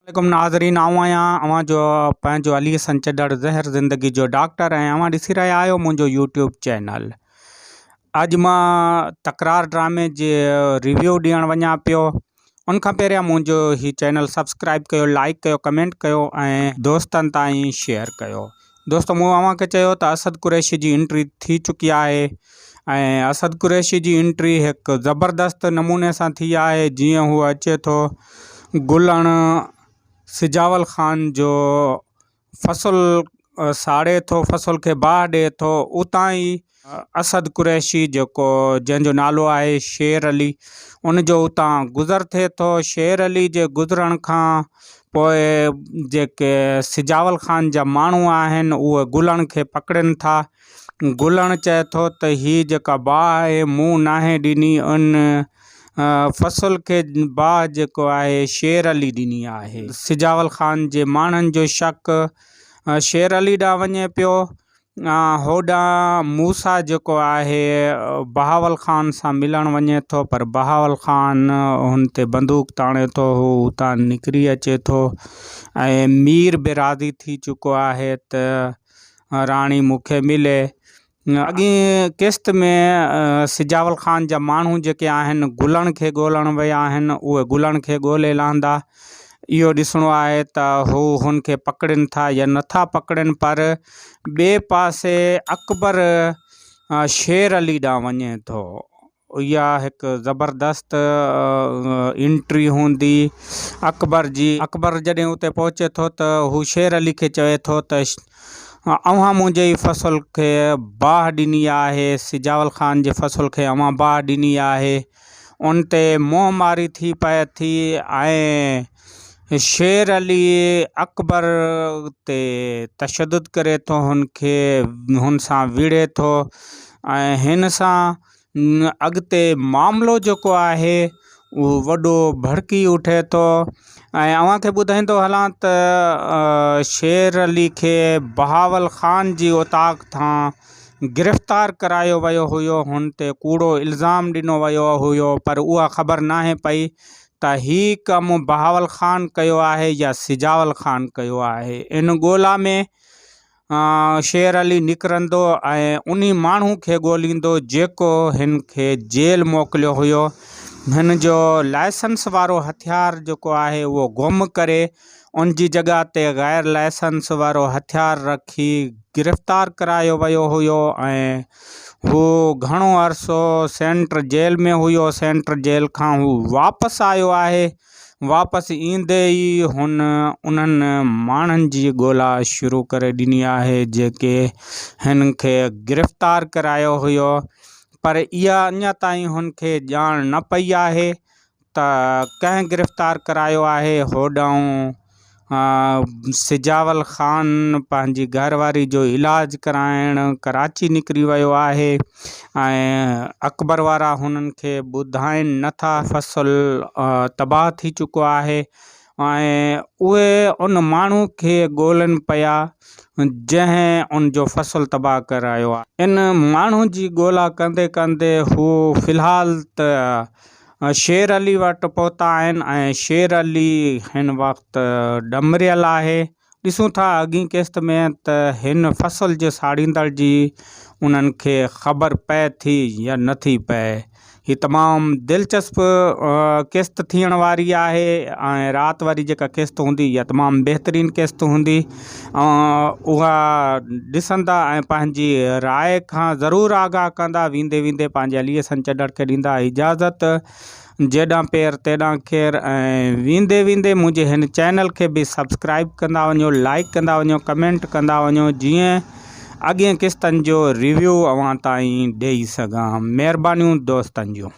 عليڪم ناظرين آئون آهيان اوهان جو پنهنجو علي حسن چڏڙ زهر زندگي جو ڊاڪٽر ۽ اوهان ڏسي رهيا آهيو منهنجو يوٽيوب چينل اڄ مان تڪرار ڊرامي جي ريويو ڏيڻ وڃا پيو ان کان پهريان منهنجو هي چينل سبسڪرائب ڪيو لائڪ ڪيو ڪمينٽ ڪيو ۽ دوستن تائين شيئر ڪيو دوستو مون اوهان کي چيو ته اسد قريشي جي انٽري ٿي چڪي آهي ۽ اسد قريشي جي انٽري هڪ زبردست نموني سان ٿي آهي جيئن هو اچي ٿو گلڻ سجاول خان جو فصل ساڙي ٿو فصل کي باهه ڏي ٿو اتان ئي اسد قريشي جيڪو جنهن جو نالو آهي شير علي ان جو اتان گذر ٿئي ٿو. شير علي جي گذرڻ کان پوء جيڪي سجاول خان جا ماڻهو آهن اهي گلڻ کي پڪڙين ٿا. گلڻ چئي ٿو ته هي جيڪا باهه آهي مون ناهي ڏني ان فصل کي باهه جيڪو آهي شير علي ڏني آهي. سجاول خان جي ماڻهن جو شڪ شير علي ڏانهن وڃي پيو هوڏانهن موسيٰ جيڪو آهي بهاول خان سان ملڻ وڃي ٿو پر بهاول خان هن تي بندوق تاڻي ٿو، هو اتان نڪري اچي ٿو ۽ مير به راضي ٿي چڪو آهي ته راڻي مون کي ملي. اڳين قسط ۾ سجاول خان جا ماڻهو جيڪي آهن گلڻ کي ڳولڻ ويا آهن، اهي گلڻ کي ڳولي لهندا اهو ڏسڻو آهي ته هو هن کي پڪڙين ٿا يا نٿا پڪڙين پر ٻئي پاسي اڪبر شير علي ڏانهن وڃي ٿو اها هڪ زبردست انٽري هوندي اڪبر جي اڪبر جڏهن اتي پهچي ٿو ته هو شير علي کي چوي ٿو ته اوهان منهنجي ئي فصل کي باهه ڏني آهي سجاول خان جي فصل کي اوهان باهه ڏني آهي ان تي منهن ماري ٿي پئي ٿي ۽ شير علي اڪبر تي تشدد ڪري ٿو، هن کي هن سان ويڙهي ٿو ۽ هن سان اڳتي معاملو جيڪو آهي اهو وڏو ڀڙڪي اٺي ٿو ۽ اوهان کي ٻڌائيندو هلان ته شير علي کي بهاول خان جي اوطاق تان گرفتار ڪرايو ويو هيو، هن تي ڪوڙو الزام ڏنو ويو هيو پر اها خبر ناهي پئي ته هي ڪم بهاول خان ڪيو آهي يا سجاول خان ڪيو آهي. ان ڳولا ۾ شير علي نڪرندو ۽ انهي ماڻهو کي ڳوليندو جيڪو هن کي جيل موڪليو هيو. هن جو لائسنس وارو هٿيار جيڪو آهي اهو گم ڪري ان جي جڳهه تي غير لائسنس وارو هٿيار رکي گرفتار ڪرايو ويو هيو ۽ هو گهڻو عرصو سينٽر جيل ۾ هيو سينٽر جيل کان هو واپس آيو آهي واپس ايندي ئي هن انهن ماڻهن جي ڳولا شروع ڪري ڏني آهي جيڪي هن کي گرفتار ڪرايو هيو پر اها اڃا تائين هن کي ڄاڻ نه پئي آهي ته ڪنهن گرفتار ڪرايو آهي؟ هوڏانهن سجاول خان پنهنجي گهر واري جو علاج ڪرائڻ ڪراچي نڪري ويو آهي ۽ اڪبر وارا هنن کي ٻڌائين نه ٿا. فصل تباهه ٿي چڪو آهي ۽ اهي ان ماڻهو کي ڳولين پيا جنهن ان جو فصل تباهه ڪرايو آهي. ان ماڻهو جي ڳولا ڪندي ڪندي هو في الحال ته شير علي وٽ پهتا آهن ۽ شير علي هن وقت ڏمريل آهي. ڏسون ٿا اڳئين قسط ۾ ته هن فصل جي ساڙيندڙ جي انهن کي خبر پئي ٿي يا نه ٿي پئي. هي تمام دلچسپ قسط ٿيڻ واري آهي ۽ رات واري جيڪا قسط هوندي اها تمام بهترين قسط هوندي. اوهان اها ڏسندا ۽ پنهنجي راء کان ضرور آگاهه ڪندا. ويندي ويندي پنهنجي عليء سان چڏڙ کي ڏيندا اجازت. جيڏانهن پير تيڏانهن خير ۽ ويندي ويندي منهنجي هن چينل کي به سبسڪرائيب ڪندا وڃو لائيڪ ڪندا وڃو ڪمينٽ ڪندا وڃو جيئن اڳين قسطن جو ريويو اوهان تائين ڏئي سگهان مهربانيون دوستن جون.